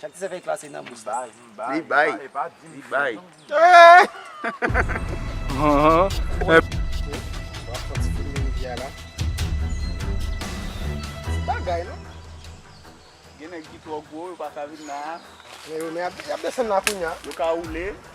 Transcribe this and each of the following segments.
Chak ti sèkèy klase nan bous la. Li bay, li bay, li bay. Ti bagay non. Gen nèg ki twò gwo yo pa ka vin nan. Men yo men y ap desann la kounya. Yo ka woule.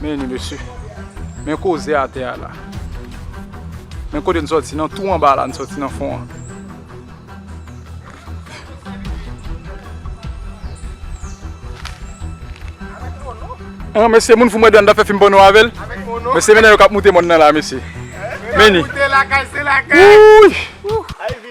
Men ni mesye, men koze a te a la. Men kote n soti nan tou anba la, n soti nan fon an. An mesye moun foun mwen dan da fe fim pano avel. Mesye men nan yo kap moute moun nan la mesye. Men ni. Wouyy.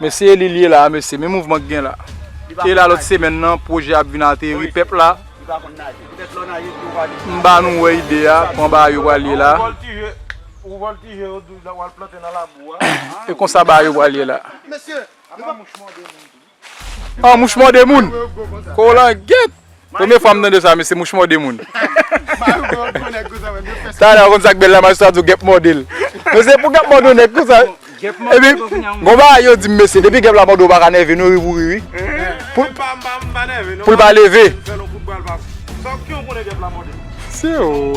Mesye Elil ye la mesye men mouvman ki gen la e la lòt semèn nan pwojè ap vin ateri pèp la m ba nou wè ide a kòman bagay yo pral ye la e konsa bagay yo pral ye la. An mouch mòde moun. Kolanget. Premye fwa m tande sa mesye mouch mòde moun. Talè ou konn sak bèl la majistra di w gèp mòde l. Mesye pou gèp mòde yon nèg konsa. Epi gon bagay yo di m mesye depi gèp la mòde w pa ka nève nou ri pou ri wi. Pou l pa leve. Siw.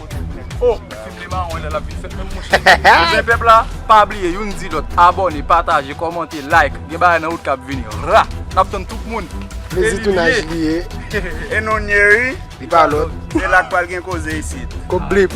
Oh film li mawon lè lap vin fèt menm mouche. Ebyen pèp la pa bliye youn di lòt abòne pataje kòmante like gen bagay nan wout kap vini ra nap tann tout moun Plezi tounaj li ye. E nou n ye ui. Li pa lòt. E la k pral gen koze isit. Kok blip.